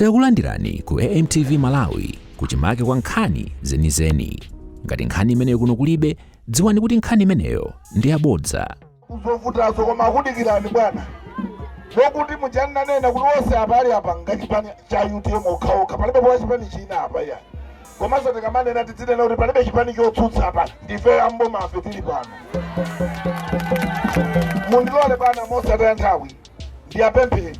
Takulandirani ku AMTV Malawi kuchimake kwa nkhani zenizeni. Ngati nkhani imeneyo kuno kulibe, dziwani kuti nkhani imeneyo ndi yabodza. kuzovutazo koma akudikirani bwana zokuti muja nanena kuti onse apa ali apa ngachipani cha utm okhaokha palibe wa chipani china apa ayi komanso tikamanena tidzinena kuti palibe chipani chotsutsa apa ndife a boma ife tili pano mundilole bwana mosataya nthawi ndiyapempheni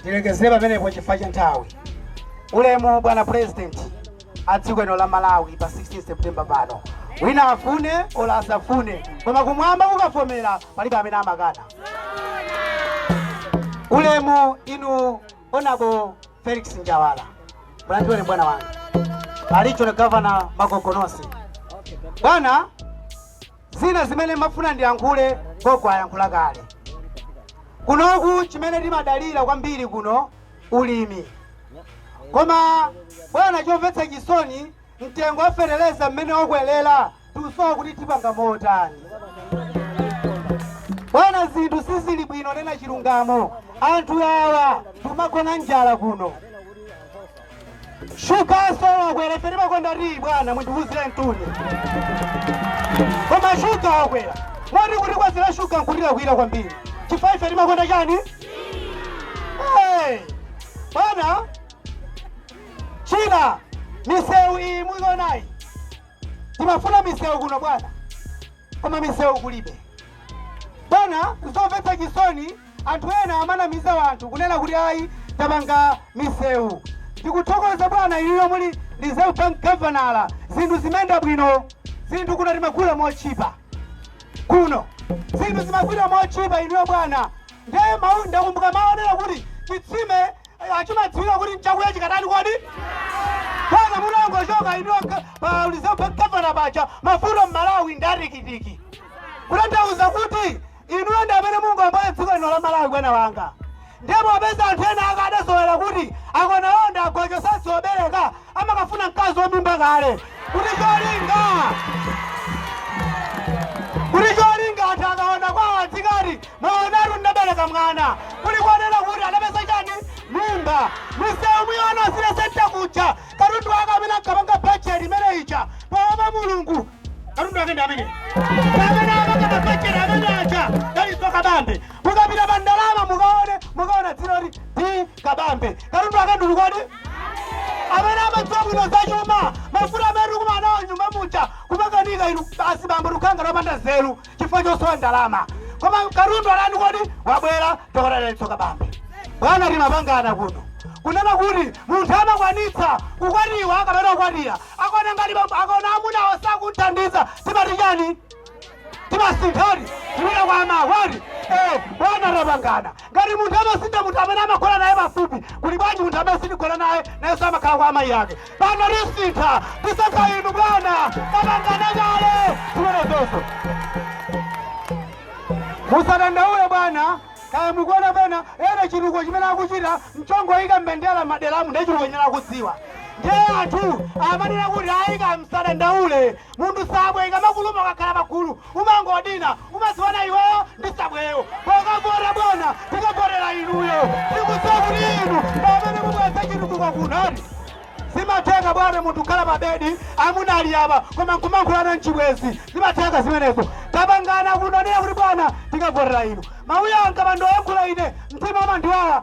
Ndilekezere pamenepo chifukwa cha nthawi. Ulemu bwana president a dziko lino la Malawi pa 16 September pano, wina afune ola asafune, koma kumwamba kukavomera palibe amene amakana. Ulemu inu onabo Felix Njawala, mulandireni bwana wanga regional gavana Magogonosi bwana zina zimene mafuna ndiyankhule gogo ayankhula kale kunoku chimene timadalira kwambiri kuno ulimi koma bwana chomvetsa chisoni mtengo wa feteleza mmene wakwelera tikusowa kuti tipanga motani bwana zinthu sizili bwino nena chilungamo anthu awa timagona njala kuno shugaso wakwera ife timakonda tiyi bwana mundiwuzire mtima koma shuga wakwera moti kuti kupezera shuga nkulira kulira kwambiri chifukwa ife timakonda chani Eh, bwana china misewu iyi muionayi Timafuna misewu kuno bwana, koma misewu kulibe bwana. Zomvetsa chisoni, anthu ena amanamiza wanthu kunena kuti ayi tapanga misewu. Ndikuthokoza bwana inuyo muli Reserve Bank gavana, zinthu zimayenda bwino, zinthu kuno timagula motchipa kuno zinthu zimagulidwa motchipa inuyo bwana ndiye ndakumbuka mau onena kuti chitsime chimadziwika kuti nchakuya chikatani kodi bwana mutangochoka inuyo pa Reserve Bank gavana paja mafuta mmalawi ndi atikitiki kutanthauza kuti inuyo ndi amene mungawombole dziko lino la malawi bwana wanga ndipo popeza anthu ena aja adazolowera kuti akonawo ndi agojo osadziwa kubereka amakafuna mkazi wa mimba kale kuti cholinga kuti cholinga akamuona kwawo adzikati mwaonatu ndabereka mwana kulikunena kuti anapeza chani mimba misewu mukuona City Centre kuja katundu wake amene ankapanga bajeti imene ija poopa mulungu katundu wake ndi amene amene amanga mabajeti amene aja Dalitso Kabambe mukapita pa ndalama mukaone mukaona dzina loti kabambe katundu akudula kodi amene amadziwa bwino za chuma mafuta amene tikumana nawo mnyumba muja kumakanika ine basi bambo tikhala opanda nzeru chifukwa chosowa ndalama koma katswiri ndani kodi wabwera dokotala daliso kabambe bwana timapangana kuno kunena kuti munthu amakwanitsa kukwatiwa kapena kukwatira akaona ngati bambo- akaona amuna osakuthandiza timati chani timasintha eti tipita kwa amakwati eh, bwana tapangana ngati munthu amasintha munthu amene amagona naye pafupi kuli bwanji munthu amene sitigona naye nayenso amakhala kwa amayi ake pano tisintha tisankha inu bwana tapangana kale zimenezoso musadandaule bwana kaya mukuona pena eni chitukuko chimene akuchita nchongoyika mbendera mmaderamu ndiye chitukuko chimene akudziwa ndiye anthu amanena kuti ayika msadandaule Munthu nsabwe ikamakuluma ukakhala pagulu umangodina umadziwana iweyo ndi nsabweyo. Pokavota bwana tikavotera inuyo. Tikudziwa kuti inu ndi amene mubweretsa chitukuko kuno eti. Zimatheka bwana munthu kukhala pa bedi amuna ali apa koma nkumankhulana nchibwenzi zimatheka zimenezo. Tapangana kuno kunena kuti bwana tikavotera inu. Mawu anga pandoyankhula ine mtima umandiwawa.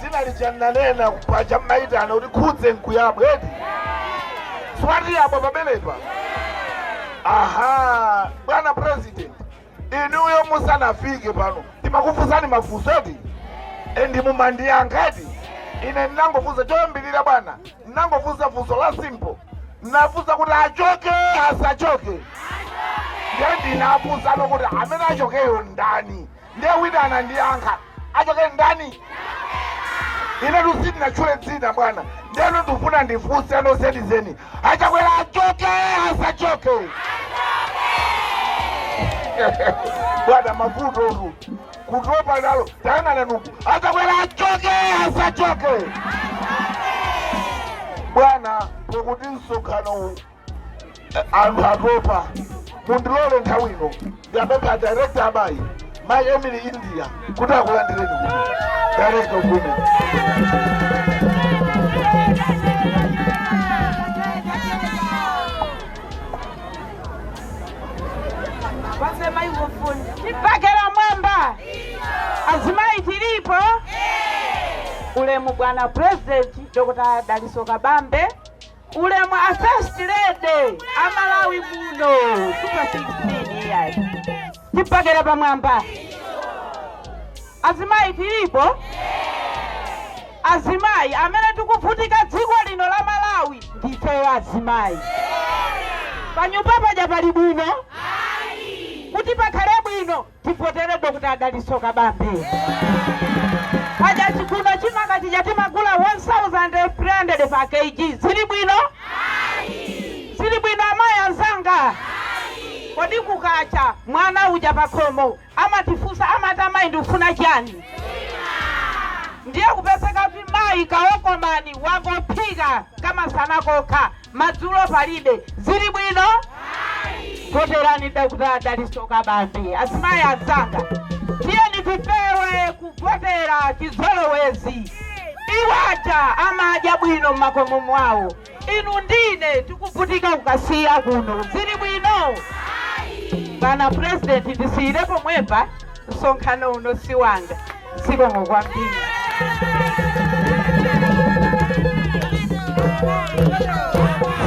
dzina lija ndinanena paja mumayitana kuti khudze nkuyabwa eti si watiyabwa pamenepa aha bwana president inuyo musanafike pano timakufunsani mafunso eti endi mumandiyankha eti ine ndinangofunsa choyambirira bwana ndinangofunsa funso la simple ndinafunsa kuti achoke asachoke ndiye ndinafunsano kuti amene achokeyo ndani ndiye wina anandiyankha achoke ndani ine tu sindinatchule dzina bwana ndeno ndifuna ndifunse anoeni zeni achakwera achoke asachoke bwana vuto ndi kutopa nalo tayang'anani uku a chakwera achoke asachoke bwana pokuti msonkhano uwu anthu atopa mundilole nthawi ino ndiwapemphe director wa amayi mayi emily india kuti akulandireni kuno director of women wasema hivyo fundi tipakera mwamba azimai tilipo ulemu bwana president dr daliso kabambe Ulemu a first lady a Malawi muno super 16 iyayi tipakera pamwamba azimayi tilipo azimayi amene tikuvutika dziko lino la Malawi ndifeyo azimayi panyumba paja pali bwino kuti pakhale bwino Tivotere Dr Dalitso Kabambe. Paja chikuno chimanga chija timagula 1300 pa Kg zili bwino? Zili bwino amayi anzanga? Kodi kukacha mwana uja pakhomo amatifunsa amati amayi ndikufuna chani? ndiye kupezeka kuti mayi kaokomani wangophika kamasana kokha Madzulo palibe, zili bwino? Voterani Dr Dalitso Kabambe. Azimayi anzanga, tiyeni tipewe kuvotera chizolowezi. Iwo aja amadya bwino m'makomo mwawo, inu ndine tikuvutika ku Kasiya kuno, zili bwino? Bwana President, ndisiyire pomwepa, msonkhano uno si wanga. zikomo kwambiri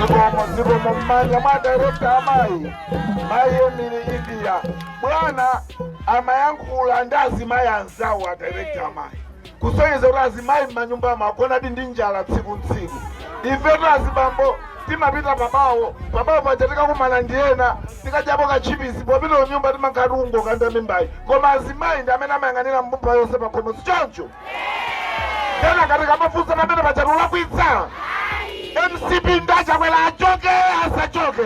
zikomo zikomo mmanja mwa a direkta amayi mayi emili india bwana amayankhula ndi azimayi anzawo a direkta amayi kusonyeza kuti azimayi m'manyumba amagonadi ndi njala tsiku ndi tsiku ifetu azibambo Timapita pa bawo. Pa bawo paja tikakumana ndi ena tikadyapo katchipisi, popita kunyumba timakhala tikungokanda mimbayi, koma azimayi ndi amene amayang'anira mbumba yonse pa khomo, si choncho? Kenaka tikamafunsa pamene paja tulakwitsa? mcp nda Chakwera achoke asachoke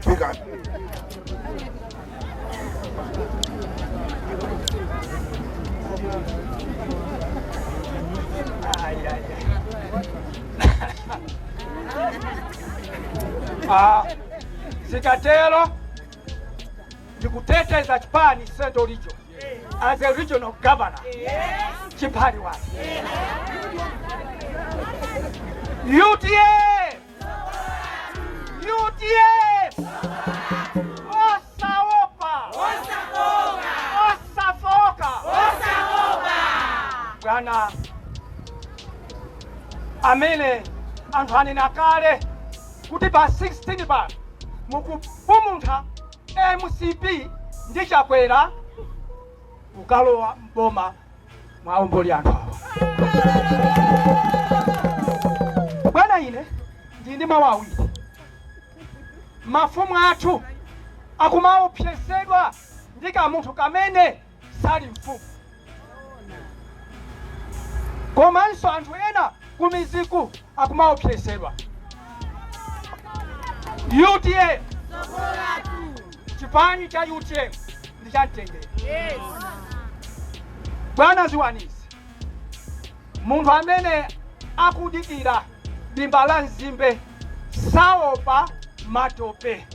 fikani Ah, zikatero ndikuteteza chipani Central Region as a regional governor chipani wake UTM UTM osaopa osafooka bwana amene anthu anena kale kuti pa 16 pa mukupumuntha mcp ndi chakwera kukalowa mboma muwaombole anthu awa bwana ine ndili ndi mawu awiri mafumu athu akumaopsezedwa ndi kamunthu kamene sali mfumu komanso anthu ena kumidziku akumaopsezedwa UTM Chipani cha utm ndi cha mtendere. Yes. Bwana dziwani izi, munthu amene akudikira dimba la nzimbe saopa matope.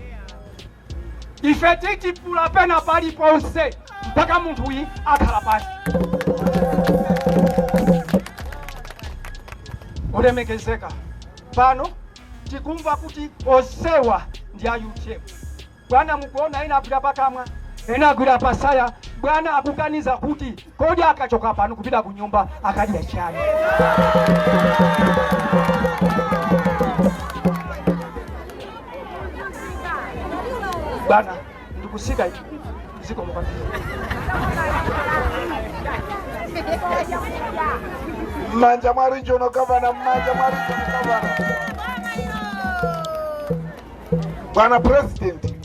Ife titipula pena paliponse mpaka munthuyi akhala pansi. Olemekezeka pano tikumva kuti onsewa ndi a utm bwana mukuona ena agwira pakamwa ena agwira patsaya bwana akuganiza kuti kodi akachoka pano kupita ku nyumba akadya chani bwana ndikutsika ichi zikomo kwambiri mmanja mwa regional governor mmanja mwa regional governor bwana president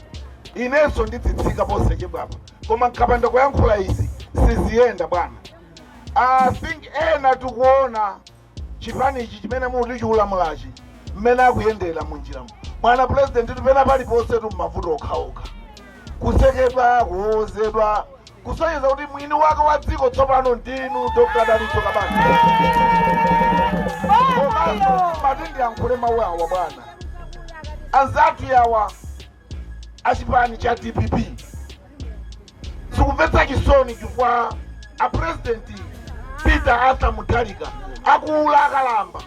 inenso ndidzitsika posachedwapa koma nkapanda kuyankhula izi siziyenda bwana i think ena tikuona chipani ichi chimene muti chikulamulachi mmene akuyendera munjiramu bwana pulezidentitu pena paliponsetu mmavuto okhaokha kusekedwa kuwowozedwa kusonyeza kuti mwini wake wa dziko tsopano ndinu dr dalitso kabambe komanso mati ndiyankhule mawu awa bwana anzathu yawa a chipani cha dpp zikumvetsa chisoni chifukwa a purezidenti peter arthur mutharika akula akalamba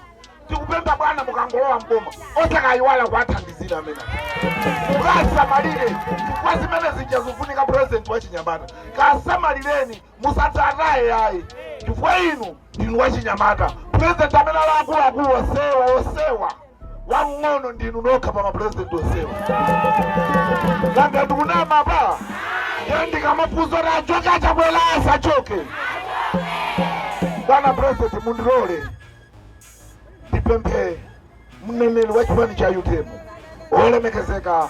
tikupempha bwana mukangolowa mboma osakayiwala kuwathandizira amene mukasamalire chifukwa zimene zija zikufunika purezidenti wa chinyamata kasamalireni musadzataye ayi chifukwa inu ndinu wa chinyamata purezidenti amene ali akuluakulu onsewa onsewa wamng'ono ndinu nokha pa mapurezidenti onsewa nanga ndikunama apa ndiye ndikamafunsa kuti achoke a chakwera asachoke bwana purezidenti mundilole ndipemphe mneneri wa chipani cha utm olemekezeka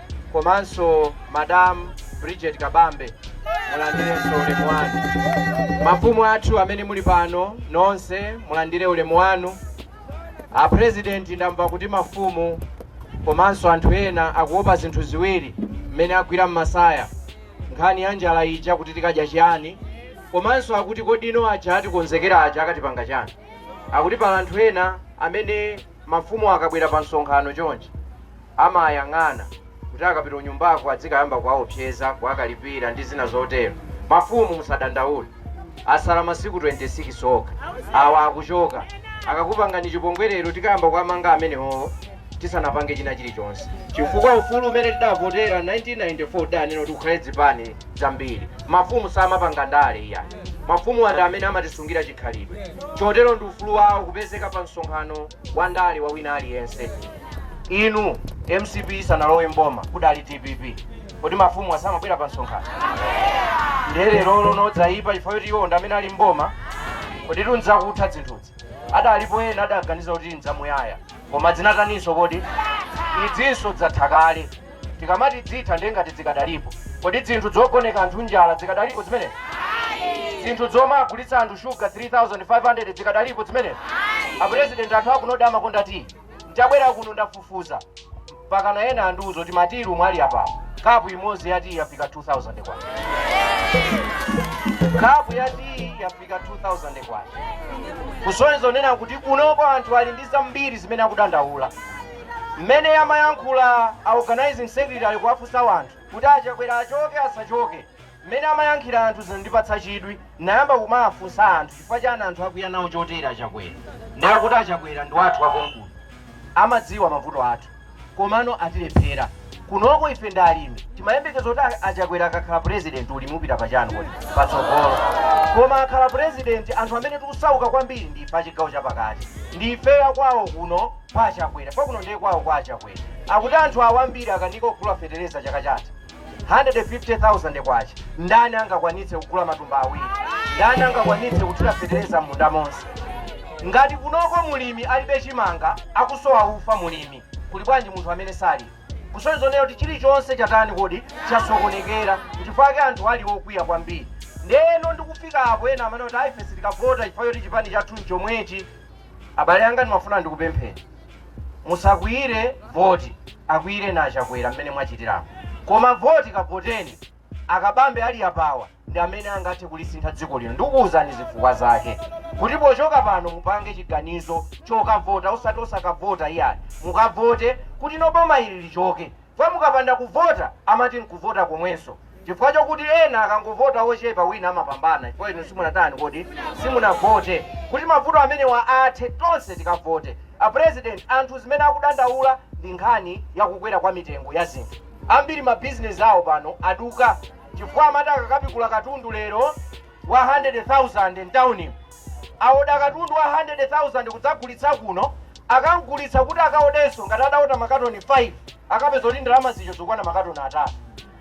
komanso Madam Bridget Kabambe mulandirenso ulemu wanu. Mafumu athu amene muli pano nonse mulandire ulemu wanu. A President ndamva kuti mafumu komanso anthu ena akuopa zinthu ziwiri mmene agwira m'masaya nkhani ya njala ija kuti tikadya chiyani komanso akuti kodi ino aja atikonzekera aja akatipanga chani akuti pali anthu ena amene Mafumu akabwera pa msonkhano chonchi, amayang'ana kuti akapita kunyumbako adzikayamba kuwaopseza, kuwakalipira ndi zina zotero. Mafumu musadandaule, asala masiku 26 okha, awa akuchoka. Akakupangani chipongwe lero, tikayamba kuwamanga amenewowo tisanapange china chilichonse. Chifukwa ufulu umene tidavotera 1994 udanena kuti kukhale dzipani. zambiri. Mafumu samapanga ndale iyayi. Mafumuwa ndi amene amatisungira chikhalidwe. Chotero ndi ufulu wawo kupezeka pa msonkhano wa ndale wa wina aliyense. Inu, mcp isanalowe m'boma kudali dpp. Kodi mafumuwa samabwera pa msonkhano? Ndiye lerolo ndiye dzayipa chifukwa choti iwo ndi amene ali m'boma? Koditu ndzakutha dzinthuzi. Adalipo ena adaganiza kuti ndzamuyaya. Koma dzinataninso kodi? Idzinso dzatha kale. tikamati dzitha ndiye ngati dzikadalipo kodi dzinthu dzogoneka anthu njala dzikadalipo dzimenezi dzinthu dzomagulitsa anthu shuga 3500 dzikadalipo dzimenezi apurezidenti anthu akunowa amakonda tiyi ndabwera kuno ndafufuza mpakana ena andiuza kuti ma tearoom ali apapo kapu imodzi ya tiyi yafika 2000 kwacha kapu ya tiyi yafika 2000 kwacha kusonyeza kunena kuti kunoko anthu ali ndi zambiri zimene akudandaula Mmene amayankhula a organising secretary kuwafunsa wanthu kuti a Chakwera achoke asachoke, mmene amayankhira anthu zinandipatsa chidwi ndinayamba kumawafunsa anthu chifukwa chani anthu akwiya nawo chotere a Chakwera nde akuti a Chakwera ndi wathu wakonkuno amadziwa mavuto athu komano atilephera kunoko ife ndi alimi timayembekeza kuti a a Chakwera akakhala president ulimi upita pa chani kodi patsogolo koma akhala president anthu amene tikusauka kwambiri ndi ife achigawo chapakati ndi ife akwawo kuno kwa achakwera kwakuno ndiye kwawo kwa achakwera akuti anthuwa ambiri akanika kugula fetereza chaka chatha 150,000 kwacha ndani angakwanitse kugula matumba awiri ndani angakwanitse kuthira fetereza m'munda monse ngati kunoko mulimi alibe chimanga akusowa ufa mulimi kuli bwanji munthu amene salima kusonyeza kunena kuti chilichonse chatani kodi chasokonekera chifukwa chake anthu ali okwiya kwambiri ndeno ndikufika apo ena amanena kuti a ife sitikavota chifukwa choti chipani chathu nchomwechi abale anga ndimafuna ndikupempheni musakwiyire voti akwiyireni achakwera mmene mwachitiramo koma voti kavoteni akabambe ali apawa ndi amene angathe kulisintha dziko lino ndikukuwuzani zifukwa zake kuti pochoka pano mupange chiganizo chokavota osati osakavota iyayi mukavote kuti bomali ili lichoke Chifukwa mukapanda kuvota amati nkuvota komwenso chifukwa chokuti ena akangovota ochepa wina amapambana chifukwa inu simunatani kodi simunavote kuti mavuto amenewa athe tonse tikavote a president anthu zimene akudandaula ndi nkhani yakukwera kwa mitengo ya zinthu ambiri mabizinesi awo pano aduka chifukwa amati akakapikula katundu lero wa 100,000 m'taunimu, aoda katundu wa 100,000 kudzagulitsa kuno, akam'gulitsa kuti akaodenso, ngati adaoda makatoni 5, akapeza kuti ndalama zija zikukwana makatoni atatu.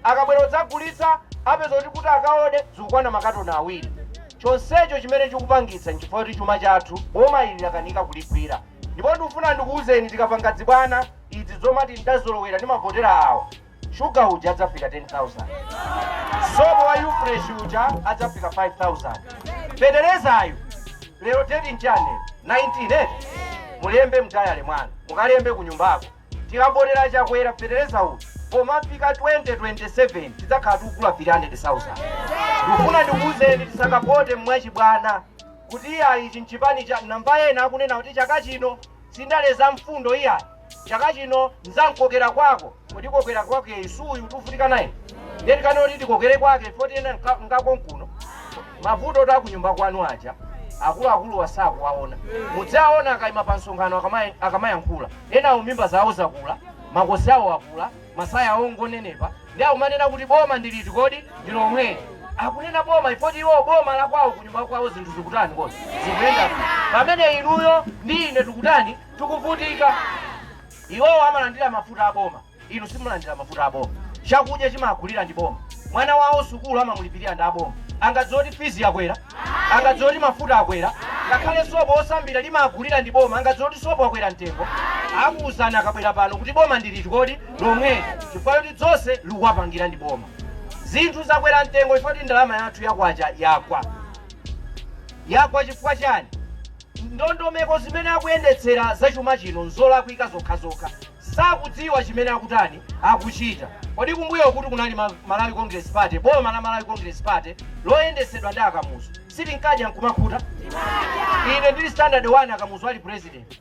Akabwera kudzagulitsa, apeza kuti kuti akaode zikukwana makatoni awiri. Chonsecho chimene chikupangitsa n'chifukwa choti chuma chathu boma ili lakanika kuligwira. Ndipo ndikufuna ndikuuzeni, tikapanga dzibwana, idzi zomati n'dazolowera, ndimavotera awo, shuga uja adzafika 10000 sopo wa ufresh uja adzafika 5000 feterezayu lero teti nchane 19 eh? mulembe mdayale mwanu mukalembe ku nyumbako tikavotera chakwera fetereza uyu pomafika 2027 tidzakhala tikugula 300000 ndikufuna ndikuwuzeni tisakavote mwachibwana kuti iyayi ichi nchipani cha namba ena akunena kuti chaka chino si ndale za mfundo iyayi chaka chino nzankokera kwako kodi kokera kwake suyu tuvutika naye ndiye tikangoti tikokere kwake ifo tiyenda nka- ngako nkuno mavutotu a kunyumba kwanu aja akuluakuluwa sakuwaona mudzaona akaima pa msonkhano akama- akamayankhula enawo mimba zawo zakula makosi awo akula masaya awo ngonenepa ndi akumanena kuti boma ndiliti kodi ndilomweli akunena boma chifoti iwo boma lakwawo kunyumba kwawo zinthu zikutani kodi zikuyenda bwino. pamene inuyo ndi ine tikutani tikuvutika. Iwowo amalandira mafuta a boma, inu simulandira mafuta a boma. Chakudya chimagulira ndi boma, mwana wawo sukulu amamulipirira ndi aboma. Angadziwe kuti fizi yakwera, angadziwe kuti mafuta akwera, ngakhale sopo osambira limagulira ndi boma, angadziwe kuti sopo akwera mtengo. Akuwuzani akabwera pano kuti boma ndi liti kodi lomweli, chifukwa choti dzonse likuwapangira ndi boma. Zinthu zakwera mtengo chifukwa kuti ndalama yathu yakwacha yagwa yagwa chifukwa chani Ndondomeko zimene akuyendetsera za chuma chino nzolakwika zokhazokha. Sakudziwa chimene akutani, akuchita. Kodi kumbuyokutu kunali Malawi Congress Party, boma la Malawi Congress Party loyendetsedwa ndi a Kamuzu, sitinkadya nkumakhuta? Ine ndili standard 1 a Kamuzu ali president.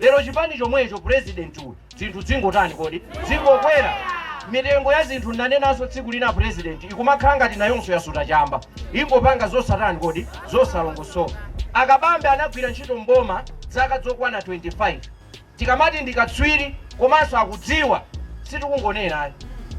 lero chipani chomwecho president uyu zinthu dzingotani kodi zingokwera mitengo ya zinthu ndanenanso tsiku lina president ikumakhala ngati nayonso yasuta chamba ingopanga zosatani kodi zosalongosoka akabambe anagwira ntchito mboma zaka zokwana 25 tikamati ndikatswiri komanso akudziwa sitikungonena ayi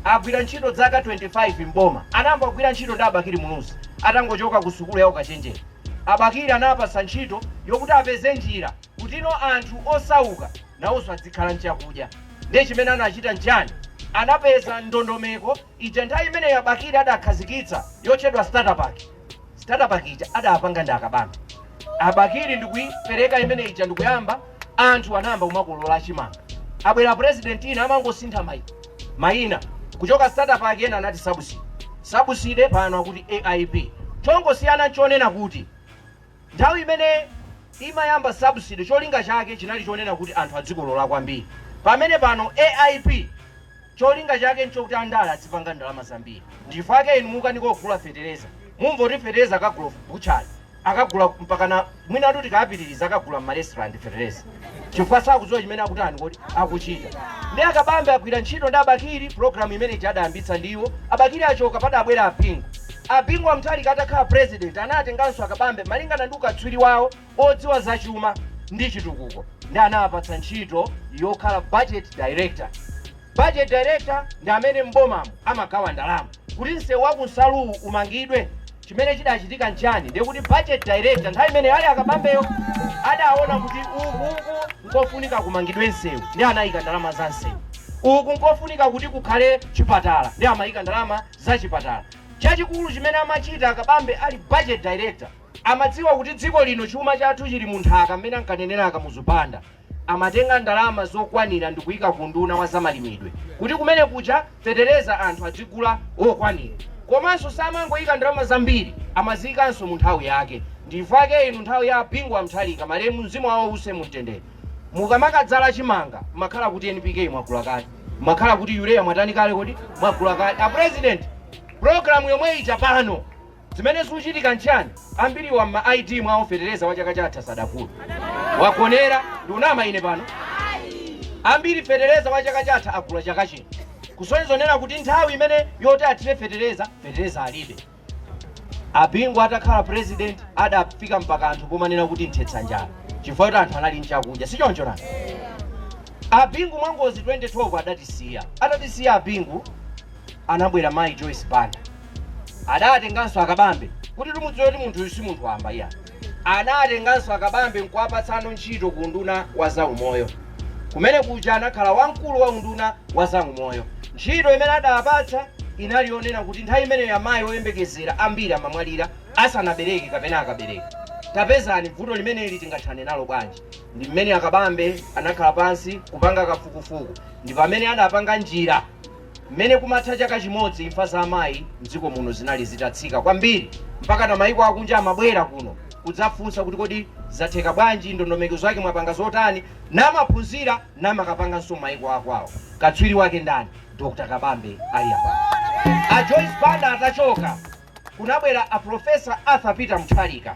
agwira ntchito zaka 25 mboma anayamba kugwira ntchito ndi abakili muluzi atangochoka ku sukulu ya ukachenjera abakili anapasa ntchito yokuti apeze njira kuti ino anthu osauka nawonso adzikhala nchakudya ndiye chimene anachita nchani anapeza ndondomeko ija nthawi imeneyo abakiri adakhazikitsa yotchedwa statapack statapack ija adapanga ndi akabambe abakiri ndikuipereka imene ija ndikuyamba anthu anayamba kumakolola achimanga abwera president ina amangosintha maina kuchoka statapack ena anati sabuside sabuside pano akuti aip chongosiyana nchonena kuti Nthawi imene imayamba subsidy cholinga chake chinali chonena kuti anthu adzikolola kwambiri pamene pano AIP cholinga chake nchokuti andale adzipanga ndalama zambiri ndichifukwa chake inu mukanika kugula fetereza mumva kuti fetereza akagula butchery akagula mpakana mwinatu tikapitiliza akagula mma restaurant fetereza chifukwa sakudziwa chimene akutani kodi akuchita ndi akabambe agwira ntchito ndi abakiri programu imene ija adayambitsa ndiwo abakiri achoka padabwera abingu abingu wa mthalika atakhala president anatenganso akabambe malingana ndi ukatswiri wawo odziwa zachuma ndi chitukuko ndi anapatsa ntchito yokhala budget director budget director ndi amene m'bomamo amagawa ndalama kuti msewu wa ku nsaluwu umangidwe Chimene chidachitika nchiyani? Ndiye kuti budget director nthawi imene ali a Kabambeyo, adaona kuti uku nkofunika kumangidwe msewu, ndiye anaika ndalama za msewu. Uku nkofunika kuti kukhale chipatala, ndiye amaika ndalama za chipatala. Chachikulu chimene amachita a Kabambe ali budget director, amadziwa kuti dziko lino chuma chathu chili mu nthaka mmene ankanenera a Kamuzu Banda. amatenga ndalama zokwanira ndikuika ku unduna wa zamalimidwe kuti kumene kuja fetereza anthu adzigula okwanira komanso samangoika ndalama zambiri amaziikanso mu nthawi yake ndichifukwa chake inu nthawi ya bingu wa mthalika malemu mzimu wawo use mumtendere mukamakadzala chimanga makhala kuti npk mwagula kale makhala kuti urea mwatani kale kodi mwagula kale a president program yomwe ija pano Zimene zikuchitika nchani? Ambiriwa mma ID mwawo fetereza wa chaka chatha sadagule. Wagonera, ndikunama ine pano? Ambiri fetereza wa chaka chatha agula chaka chino. Kusonyeza zonena kuti nthawi imene yoti athire fetereza, fetereza alibe. Abingu atakhala president adafika mpaka anthu pomanena kuti mthetsa njala chifukwa kuti anthu anali nchakudya si choncho nani abingu mwangozi 2012 adatisiya atatisiya abingu anabwera mayi joyce banda Adatenganso akabambe kuti timudziwe kuti munthuyu si munthu wamba iya. Anatenganso akabambe n'kuwapatsano ntchito ku unduna wa zaumoyo. Kumene kuja anakhala wamkulu wa unduna wa zaumoyo. Ntchito imene adawapatsa inali yonena kuti nthawi imeneyo amayi oyembekezera ambiri amamwalira asanabereke kapena akabereka. Tapezani vuto limeneli tingathane nalo bwanji. Ndi mmene akabambe anakhala pansi kupanga kafukufuku. Ndi pamene adapanga njira Mmene kumatha chaka chimodzi, imfa za amayi m'dziko muno zinali zitatsika kwambiri mpakana mayiko akunja amabwera kuno kudzafunsa kuti kodi zatheka bwanji, ndondomeko zake mwapanga zotani? Namaphunzira namakapanganso m'mayiko akwawo. Katswiri wake ndani? Dr. Kabambe ali apa. A Joyce Banda atachoka, kunabwera a Professor Arthur Peter Mutharika.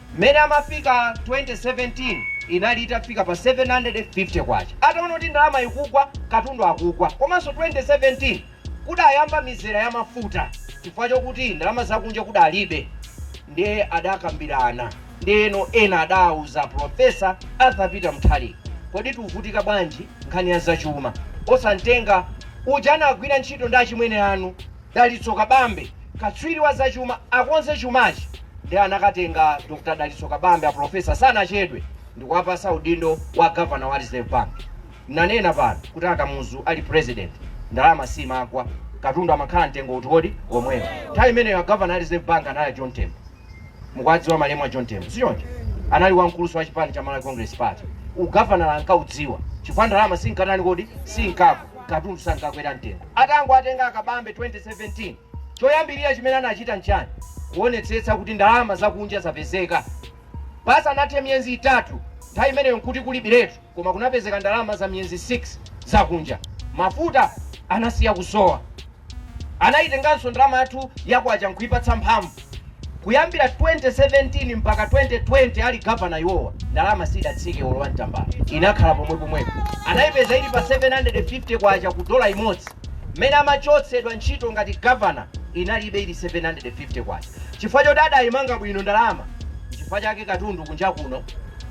Mmene amafika 2017 inali itafika pa K750. Ataona kuti ndalama ikugwa, katundu akukwa komanso 2017 kudayamba mizera ya mafuta chifukwa chokuti ndalama zakunja kudalibe ndiye adakambirana ndiyeno ena adauza Prof. Arthur Peter Mutharika kodi tuvutika bwanji nkhani ya zachuma osamtenga uja anagwira ntchito ndi achimwene anu Dalitso Kabambe, Katswiri wa zachuma akonze chumachi nde anakatenga Dr Dalitso Kabambe apulofesa sanachedwe ndikuwapasa udindo wa Governor wa Reserve Bank. Ndanena pano kuti a Kamuzu ali president ndalama simakwa katundu amakhala mtengo uti kodi? Omwewo. Nthawi imeneyo a Governor a Reserve Bank anali a John Tembo. mukuwadziwa malemu a John Tembo sichoncho anali wamkulunso wa chipani cha Malawi Congress Party ugavanala ankaudziwa chifukwa ndalama sinkatani kodi sinkagwa katundu sankakwera mtengo atangowatenga a Kabambe 2017 choyambirira chimene anachita nchani kuonetsetsa kuti ndalama zakunja zapezeka pasanathe miyezi itatu nthawi imeneyo nkuti kulibiretu koma kunapezeka ndalama za miyezi 6 zakunja. Mafuta anasiya kusowa. Anayitenganso ndalama yathu ya kwacha n'kuipatsa mphamvu. Kuyambira 2017 mpaka 2020 ali gavana iwowa, ndalama sidatsike olo wantambala, inakhala pomwepomwepo. Anaipeza ili pa K750 ku dola imodzi. Mmene amachotsedwa ntchito ngati gavana inalibe ili K750. Chifukwa choti adaimanga bwino ndalama, n'chifukwa chake katundu kunja kuno.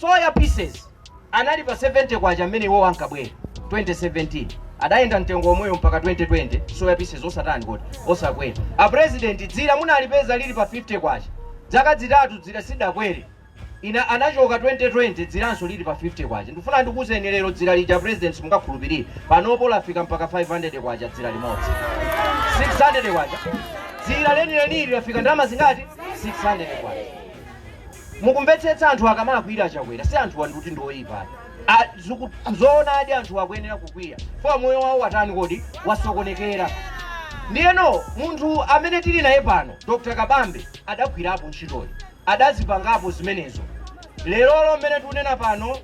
soya pieces anali pa 70 kwacha mmene iwo ankabwera 2017 adayenda mtengo omweyo mpaka 2020 soya pieces osatani kodi osakwera a president dzira munalipeza lili pa 50 kwacha dzaka dzitatu dzira sidakwere inu anachoka 2020 dziranso lili pa 50 kwacha ndifuna ndikuuzeni lero dzira lija a president simungakhulupirire panopo lafika mpaka 500 kwacha dzira limodzi 600 kwacha dzira lenilenili lafika ndalama zingati 600 kwacha mukumvetsetsa anthu akamalakwira a Chakwera si anthuwa ndikuti ndi oyipa ayi. zoonadi anthu akuyenera kukwiya fwa moyo wawo watani kodi wasokonekera ndiyeno munthu amene tili naye pano dr kabambe adagwirapo ntchitoyi adazipangapo zimenezo lerolo mmene tikunena pano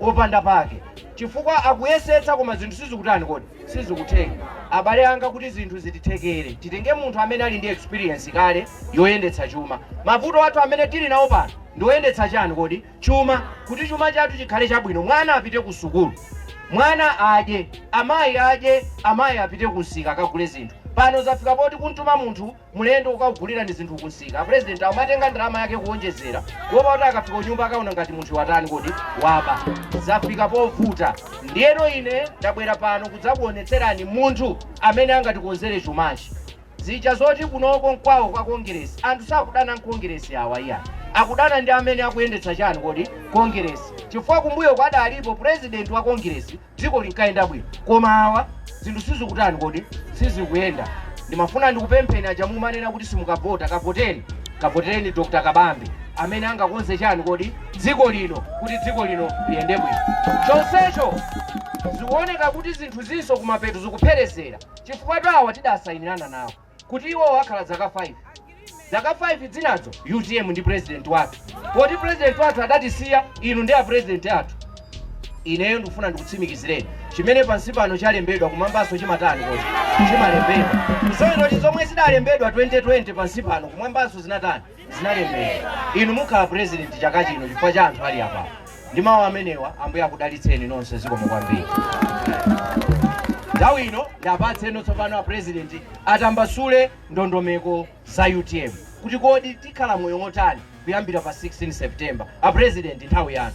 opanda pake chifukwa akuyesetsa koma zinthu sizikutani kodi sizikutheka abale anga kuti zinthu zitithekere titenge munthu amene ali ndi experience kale yoyendetsa chuma mavuto athu amene tili nawo pano ndioyendetsa chani kodi chuma kuti chuma chathu chikhale chabwino mwana apite ku sukulu mwana adye amayi adye amayi apite kumsika akagule zinthu pano zafika poti kumtuma munthu Mlendo kukakugulirani zinthu kumsika, president akumatenga ndalama yake kuonjezera kuopa kuti akafika kunyumba akaona ngati munthuyu watani kodi? Waba. Zafika povuta. Ndiyeno ine ndabwera pano kudzakuonetserani munthu amene angatikonzere chumachi. Zija zoti kunoko nkwawo kwa Kongeresi, anthu sakudana n'Kongeresi awa iyayi. Akudana ndi amene akuyendetsa chani kodi? Kongeresi. Chifukwa kumbuyoku adalipo president wa Kongeresi dziko linkayenda bwino koma awa zinthu sizikutani kodi sizikuyenda ndimafuna ndikupempheni aja mumanena kuti simukavota kavoteni kavotereni dr kabambe amene angakonze chani kodi dziko lino kuti dziko lino liyende bwino chonsecho zikuoneka kuti zinthu zinso kumapeto zikupherezera chifukwatu awa tidasayinirana nawo kuti iwowo akhala dzaka 5 dzaka 5 dzinazo utm ndi president wathu poti president wathu adatisiya inu ndi a president athu ineyo ndikufuna ndikutsimikizireni chimene pansi pano chalembedwa kumwambanso chimatani kodi chimalembedwa kusonyeza kuti zomwe zidalembedwa 2020 pansi pano kumwambanso zinatani zinalembedwa. Inu mukhala president chaka chino chifukwa cha anthu ali apa. Ndi mawu amenewa Ambuye akudalitseni nonse zikomo kwambiri. Nthawi ino ndiapatseno tsopano a president atambasule ndondomeko za UTM kuti kodi tikhala moyo wotani kuyambira pa 16 September. A president nthawi yanu.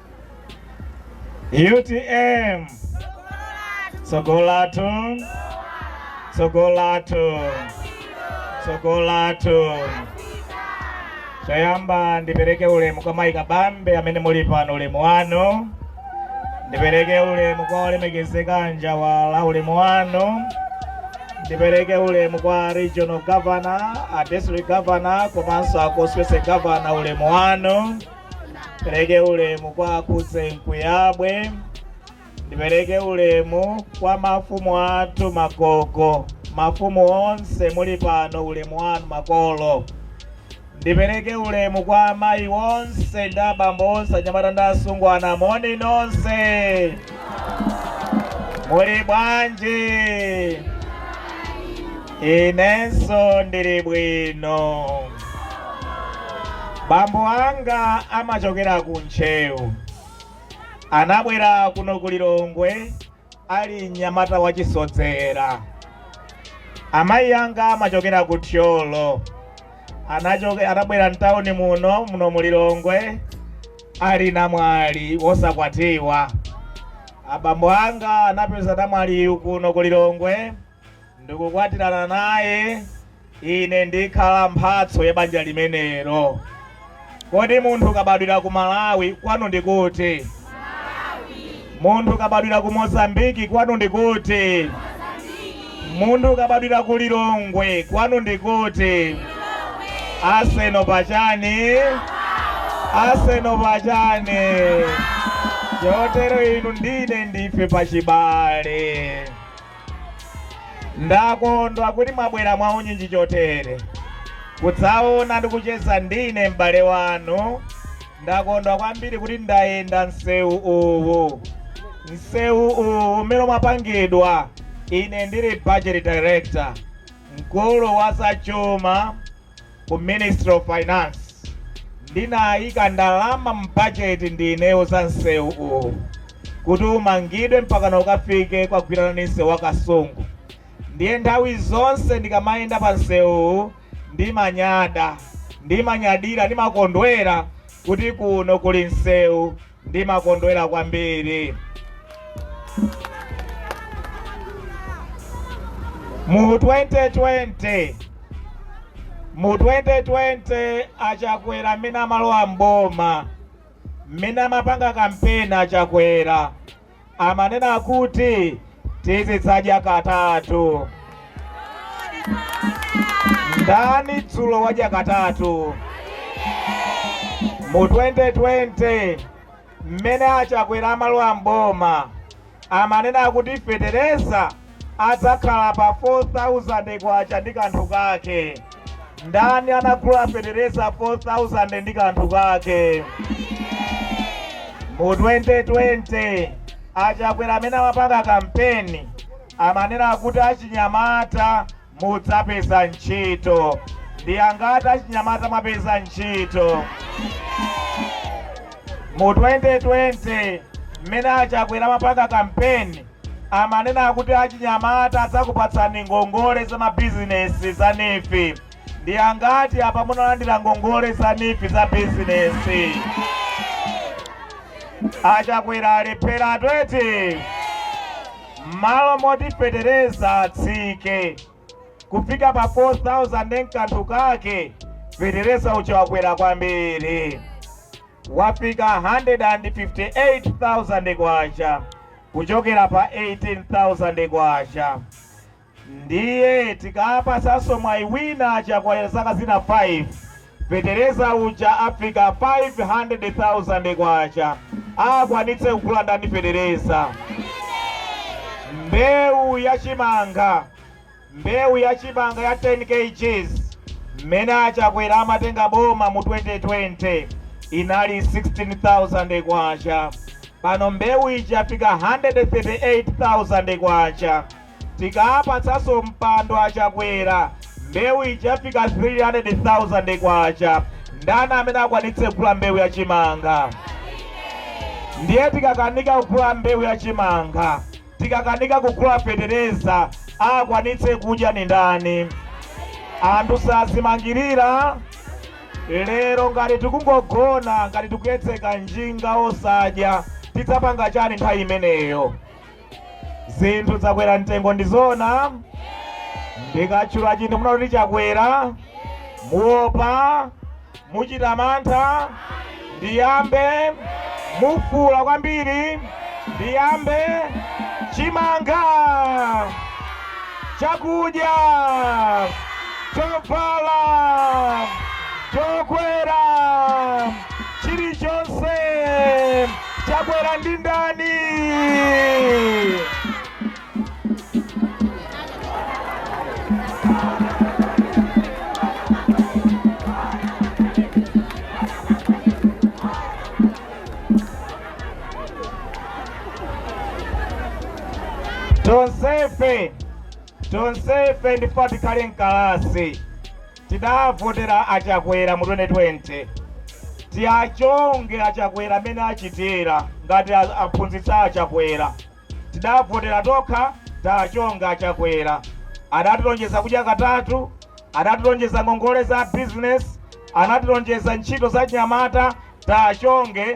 utm tsogolatu tsogolatu tsogolatu choyamba ndipereke ulemu kwa mayi kabambe amene muli pano ulemu wanu ndipereke ulemu kwa olemekezeka njawala ulemu wanu ndipereke ulemu kwa regional governor a district governor komanso a constituency governor ulemu wanu Ndipereke ulemu kwa akuse Nkuyabwe, ndipereke ulemu kwa mafumu athu magogo, mafumu onse muli pano, ulemu wanu makolo. Ndipereke ulemu kwa amayi onse ndi abambo onse, anyamata ndi asungwana, moni nonse, muli bwanji? Inenso ndili bwino. Bambo anga amachokera ku Ntcheu. Anabwera kuno ku Lilongwe ali mnyamata wachisodzera. Amayi anga amachokera ku Thyolo. Anabwera mtawuni muno muno mu Lilongwe ali namwali wosakwatiwa. Abambo anga anapeza namwaliyu kuno ku Lilongwe. n'kukwatirana naye, ine ndikhala mphatso ya banja limenelo. Kodi munthu ukabadwira ku Malawi kwanu ndi kuti? Munthu ukabadwira ku Mozambiki kwanu ndi kuti? Munthu ukabadwira ku Lilongwe kwanu ndi kuti? Aseno pachani, aseno pachani. Chotero inu ndi ine ndife pachibale. Ndakondwa kuti mwabwera mwaunyinji chotere kudzaona ndi kucheza ndi ine, m'bale wanu. Ndakondwa kwambiri kuti ndayenda msewu uwu, msewu uwu umene umapangidwa ine ndili budget director, mkulu wa zachuma ku Ministry of Finance ndinayika ndalama m'bajeti ndineyo za msewu uwu kuti umangidwe mpakana ukafike kogwirana ni msewu wa Kasungu. Ndiye nthawi zonse ndikamayenda pa msewuwu ndimanyada, ndimanyadira, ndimakondwera kuti kuno kuli msewu ndimakondwera kwambiri mu 2020 mu 2020 a Chakwera mmene amalowa m'boma mmene amapanga kampeni a Chakwera amanena kuti tizidzadya katatu. Ndani dzulo wadya katatu? Mu 2020 mmene a Chakwera amalowa m'boma amanena kuti fetereza adzakhala pa K4000 ndi kanthu kake. Ndani anagula fetereza 4000 ndi kanthu kake? Mu 2020 a Chakwera mmene amapanga kampeni amanena kuti achinyamata mudzapeza ntchito. Ndi angati achinyamata mwapeza ntchito? Mu 2020 mmene a Chakwera amapanga kampeni amanena kuti achinyamata adzakupatsani ngongole za mabizinesi za NEEF. Ndi angati apa munalandira ngongole za NEEF za bizinesi? A Chakwera alephera 20. Mmalo moti fetereza atsike kufika pa 4000 mkanthu kake fetereza uja wakwera kwambiri wafika 158,000 kwacha kuchokera pa 18,000 kwacha. Ndiye tikaapatsanso mwayi wina a Chakwera zaka zina 5, fetereza uja afika K500,000 aakwanitse kugula ndani fetereza? Mbewu ya chimanga, mbewu ya chimanga ya 10 kgs mmene a Chakwera amatenga boma mu 2020 inali K16,000, pano mbewu ija yafika K138,000. Tikaapatsanso mpando a Chakwera mbewu ija ifika K300,000 ndani amene akwanitse kugula mbewu ya chimanga? Ndiye tikakanika kugula mbewu ya chimanga, tikakanika kugula fetereza akwanitse kudya ni ndani? Anthu sazimangirira lero ngati tikungogona ngati tikuyedzeka njinga osadya tidzapanga chani nthawi imeneyo? zinthu zakwera mtengo ndizona ndikatchula chinthu munene kuti chakwera muopa muchita mantha ndiyambe mufuula kwambiri ndiyambe chimanga chakudya chovala chokwera chilichonse Chakwera ndi ndani? Tonsefe tonsefe ndife tikhale mkalasi Tidavotera a Chakwera mu 2020. Tiachonge a Chakwera mmene achitira ngati aphunzitsi a Chakwera. Tidavotera tokha tiachonge a Chakwera. Adatilonjeza kudya katatu, adatilonjeza ngongole za business, anatilonjeza ntchito za achinyamata, tiachonge.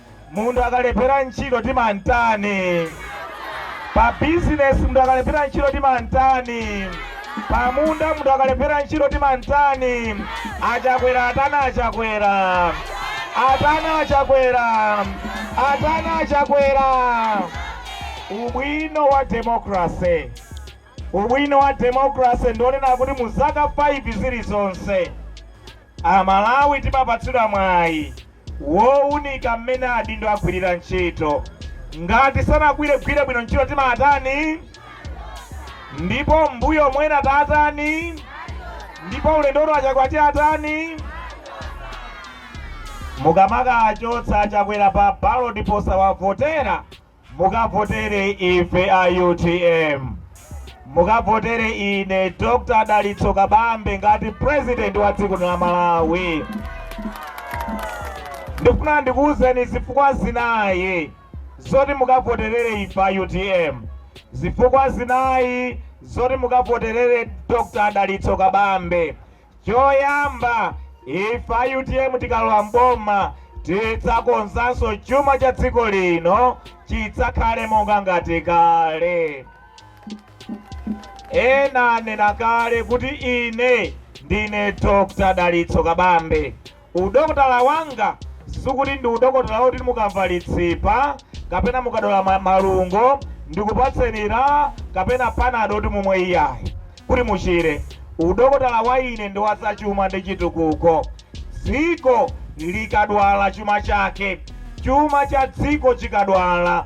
Munthu akalephera ntchito timantani? Pa business munthu akalephera ntchito timantani? Pa munda munthu akalephera ntchito timantani? A Chakwera atani a Chakwera. Atani a Chakwera. Atani a Chakwera. Ubwino wa democracy. Ubwino wa democracy ndi wonena kuti mu zaka 5 zilizonse Amalawi timapatsidwa mwayi wounika mmene adindo agwirira ntchito. Ngati sanagwire gwire bwino ntchito timaatani? Ndipo mbuyomu ena taatani? Ndipo ulendo uno a Chakwera tiatani? Mukamakaachotsa a Chakwera pa ballot posawavotera mukavotere ife a utm mukavotere ine dr dalitso kabambe ngati president wa dziko la malawi ndifuna ndikuwuzeni zifukwa zinayi zoti mukavoterere ife a utm zifukwa zinayi zoti mukavoterere dr dalitso kabambe Choyamba, ife a utm tikalowa m'boma tidzakonzanso chuma cha dziko lino chidzakhale monga ngati kale. Ena anena kale kuti ine ndine Dr. Dalitso Kabambe Udokotala wanga sikuti ndi udokotala woti mukamva litsipa kapena mukadwala malungo ndikupatseni LA kapena panado kuti mumwe iyayi kuti muchire. Udokotala wa ine ndi wa zachuma ndi chitukuko. Dziko likadwala chuma chake, chuma cha dziko chikadwala,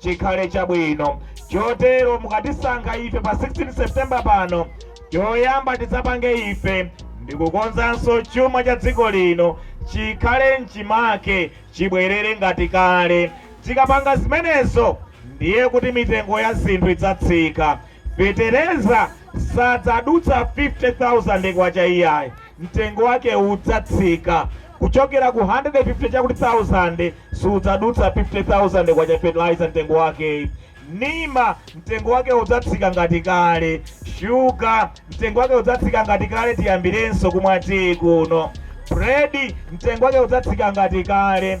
chikhale chabwino. Chotero mukatisankha ife pa 16 September pano, choyamba tidzapange ife ndi kukonzanso chuma cha dziko lino chikhale m'chimake, chibwerere ngati kale. Tikapanga zimenezo, ndiye kuti mitengo ya zinthu idzatsika. Fetereza sadzadutsa K50,000 iyayi, mtengo wake udzatsika kuchokera ku 150 chakuti thousand, sudzadutsa K50,000 fertilizer mtengo wake. Nima mtengo wake udzatsika ngati kale, shuga mtengo wake udzatsika ngati kale, tiyambirenso kumwa tiyi kuno. Bread mtengo wake udzatsika ngati kale,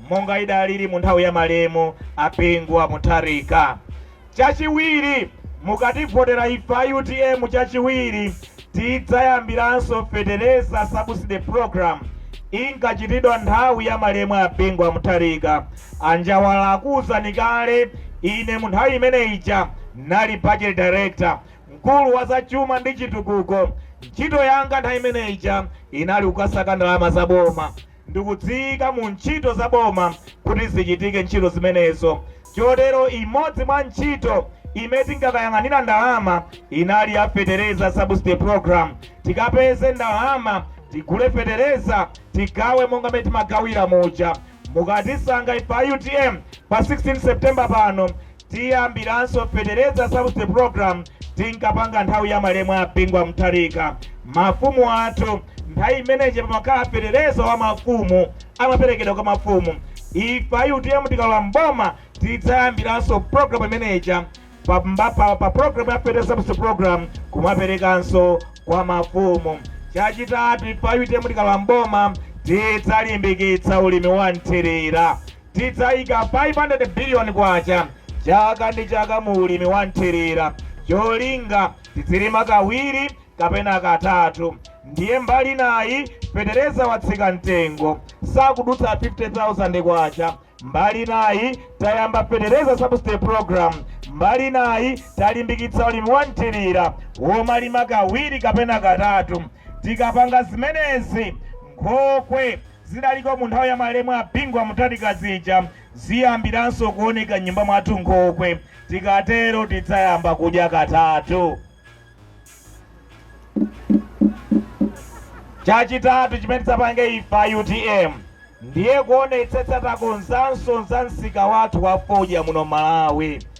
monga idaliri mu nthawi ya malemu a Bingu wa Mutharika. Chachiwiri, mukativotera ife a utm chachiwiri tidzayambiranso fetereza subsidy program inkachitidwa nthawi ya malemu a Bingu wa Mutharika. A Njawala akuwuzani kale, ine mu nthawi imene ija nali budget director, mkulu wa za chuma ndi chitukuko. Ntchito yanga nthawi imene ija inali kukasaka ndalama za boma. ndikudziika mu ntchito za boma kuti zichitike ntchito zimenezo. Chotero imodzi mwa ntchito imene tinkakayang'anira ndalama inali ya fetereza subsidy program. Tikapeze ndalama tigule fetereza tigawe monga mmene timagawira muja. Mukatisankha ife a utm pa 16 September pano Tiyambiranso feteleza subsidy program tinkapanga nthawi ya malemu a Bingu wa Mutharika. Mafumu athu nthawi imene ija pamakhala feteleza wa mafumu amaperekedwa kwa mafumu. Ife a UTM tikalowa mboma tidzayambiranso program imene ija pa program ya feteleza subsidy program kumaperekanso kwa mafumu. Chachitatu ife a UTM tikalowa mboma tidzalimbikitsa ulimi wa nthirira. Tidzayika K500 billion chaka ndi chaka mu ulimi wa mthirira cholinga tidzilima kawiri kapena katatu ndiye mbali inayi fetereza watsika mtengo sakudutsa K50,000 mbali inayi tayamba fetereza subsidy program mbali inayi talimbikitsa ulimi wa mthirira womalima kawiri kapena katatu tikapanga zimenezi nkhokwe Zidaliko mu nthawi ya malemu a Bingu wa Mutharika zija ziyambiranso kuoneka m'nyumba mwathu nkhokwe. Tikatero tidzayamba kudya katatu. Chachitatu chimene tidzapange ife a utm ndiye kuonetsetsa takonzanso za msika wathu wa fodya muno m'Malawi.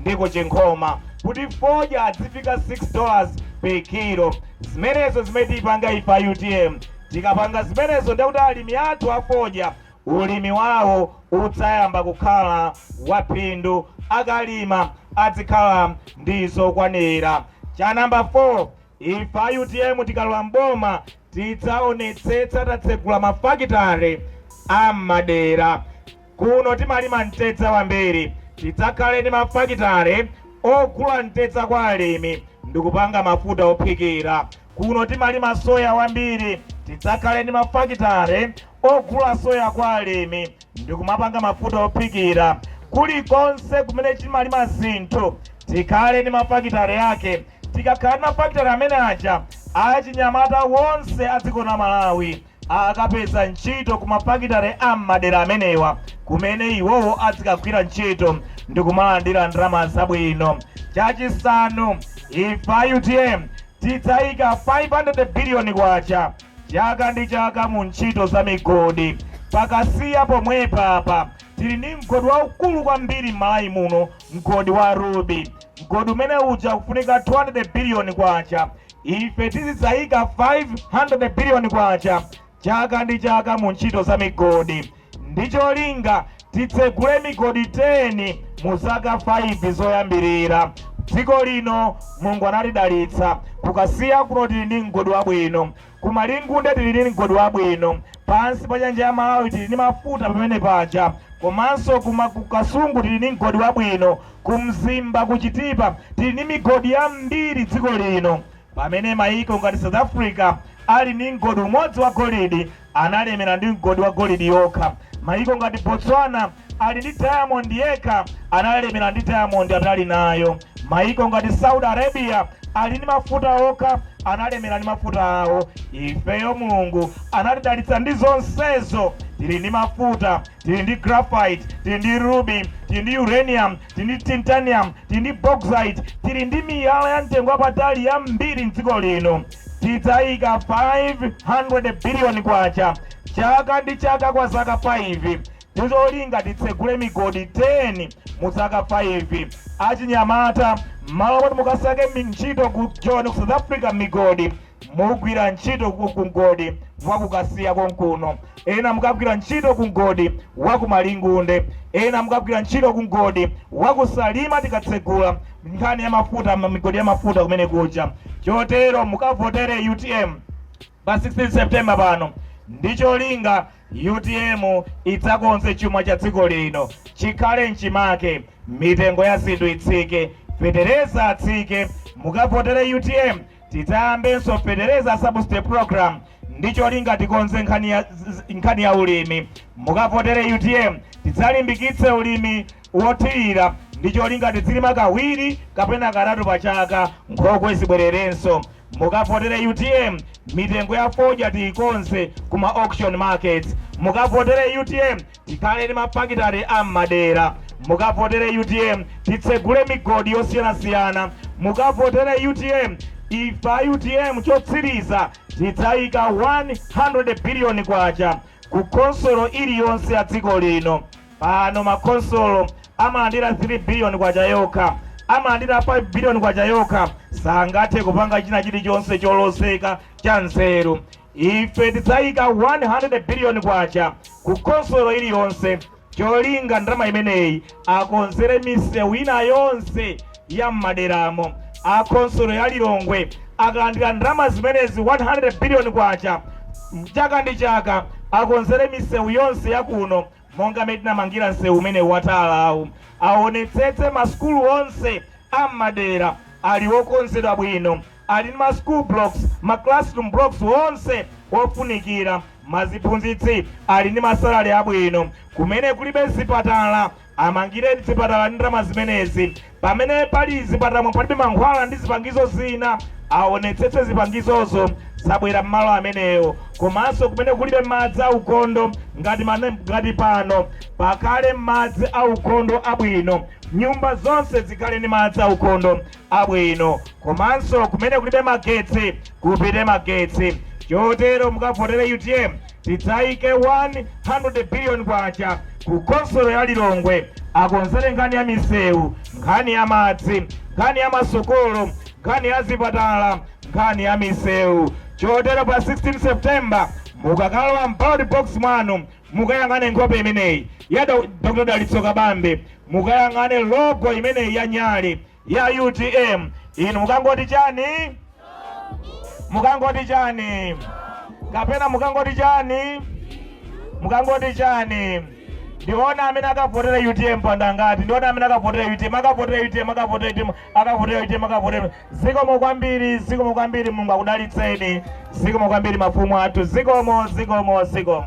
ndi ku Chinkhoma kuti fodya adzifika 6 dollars per kilo. Zimenezo zimene tipanga ife a utm. Tikapanga zimenezo ndiye kuti alimi athu a fodya ulimi wawo udzayamba kukhala wa phindu. Akalima adzikhala ndi zokwanira. Cha number 4. Ife a utm tikalowa m'boma tidzaonetsetsa tatsegula mafakitale a m'madera. Kuno timalima mtedza wambiri, tidzakhale ndi mafakitale ogula mtedza kwa alimi ndikupanga mafuta ophikira. Kuno timalima soya wambiri, tidzakhale ndi mafakitale ogula soya kwa alimi ndikumapanga mafuta ophikira. Kulikonse kumene timalima zinthu tikhale ndi mafakitale yake. Tikakhala ndi mafakitale amene aja achinyamata wonse a dziko la Malawi akapeza ntchito ku ma fakitale a m'madera amenewa kumene iwowo adzikagwira ntchito ndikumalandira ndalama zabwino. Chachisanu, ife a utm tidzayika K500 billion chaka ndi chaka mu ntchito za migodi. Pa Kasiya pomwepa apa tili ndi mgodi waukulu kwambiri m'Malawi muno Mgodi wa Ruby, mgodi umene uja kufunika 200 billion kwacha, ife tizidzaika 500 billion kwacha chaka ndi chaka mu ntchito za migodi ndi cholinga titsegule migodi 10 mu zaka 5 zoyambirira. Dziko lino Mulungu anatidalitsa ku Kasiya kuno tili ndi mgodi wabwino. Ku Malingunde tili ndi mgodi wabwino pansi pa nyanja ya Malawi tili ndi mafuta pamene paja komanso ku ma ku Kasungu tili ndi mgodi wabwino ku Mzimba ku Chitipa tili ndi migodi yambiri dziko lino pamene maiko ngati South Africa ali ndi mgodi umodzi wa golidi analemera ndi mgodi wa golidi yokha maiko ngati Botswana ali ndi diamond yekha analemela ndi diamond atali nayo. Maiko ngati Saudi Arabia ali ndi mafuta okha analemela ndi mafuta awo. Ifeyo Mulungu anatidalitsa ndi zonsezo tili ndi mafuta, tili ndi graphite, tili ndi ruby, tili ndi uranium, tili ndi titanium, tili ndi bauxite, tili ndi miyala ya mtengo wapatali yambiri mdziko lino. Tidzayika 500 billion kwacha chaka ndi chaka kwa zaka 5 ndicholinga titsegule migodi 10 mu zaka 5. Achinyamata, m'malo moti mukasake mi- ntchito ku Joni ku South Africa m'migodi, mugwira ntchito ku ku mgodi wa ku Kasiya konkuno, ena mukagwira ntchito ku mgodi wa ku Malingunde, ena mukagwira ntchito ku mgodi wa ku Salima tikatsegula nkhani ya mafuta, ma- migodi ya mafuta kumene kuja. Chotero mukavotere UTM pa 16 September pano ndi cholinga utm idzakonze chuma cha dziko lino chikhale mchimake, mitengo ya zinthu itsike, fetereza atsike, mukavotere utm tidzayambenso fetereza subsidy program ndi cholinga tikonze nkhani ya, nkhani ya ulimi. Mukavotere utm tidzalimbikitse ulimi wothirira ndi cholinga tidzilima kawiri kapena katatu pa chaka, nkhokwe zibwererenso. Mukavotere utm mitengo ya fodya tiikonze ku ma auction markets. Mukavotere utm tikhale ndi ma fakitale a m'madera. Mukavotere utm titsegule migodi yosiyanasiyana. Mukavotere utm ife a utm chotsiriza tidzaika K100 billion ku khonsolo iliyonse ya dziko lino. Pano makhonsolo amalandira K3 biliyoni yokha, amalandira K5 biliyoni yokha, sangathe kupanga china chilichonse cholozeka, chanzeru. Ife tidzayika K100 biliyoni ku khonsolo iliyonse cholinga ndalama imeneyi akonzere misewu ina yonse ya m'maderamo. A khonsolo ya Lilongwe akalandira ndalama zimenezi K100 biliyoni chaka ndi chaka, akonzere misewu yonse ya kuno. monga mmene tinamangira msewu umene watalawu aonetsetse masukulu onse a m'madera ali okonzedwa bwino ali ndi ma school blocks ma classroom blocks onse ofunikira maziphunzitsi ali ndi masalale abwino kumene kulibe zipatala amangire zipatala ndi ndalama zimenezi Pamene pali zipatalamo palibe mankhwala ndi zipangizo zina, awonetsetse zipangizozo zabwera mmalo amenewo komanso kumene kulibe madzi aukhondo ngati pano pakhale madzi aukhondo abwino, nyumba zonse zikhale ndi madzi aukhondo abwino komanso kumene kulibe magetsi kupite magetsi chotero mukavotere utm. tidzaike 100 billion kwacha ku khonsolo ya Lilongwe akonzele nkhani ya misewu, nkhani ya madzi, nkhani ya masukulu, nkhani ya zipatala, nkhani ya misewu. Chotero pa 16 September mukakalowa m'ballot box mwanu mukayang'ane nkhope imeneyi ya Dr. Dalitso Kabambe, mukayang'ane logo imeneyi ya Nyali. ya utm inu mukangoti chani mukangoti chani kapena mukangoti chani mukangoti chani ndiona amene akavotera utm pano ndi angati ndiona amene akavotera utm akavotera utm akavotera utm akavotera utm akavotera zikomo kwambiri zikomo kwambiri mulungu akudalitseni zikomo kwambiri mafumu athu zikomo zikomo zikomo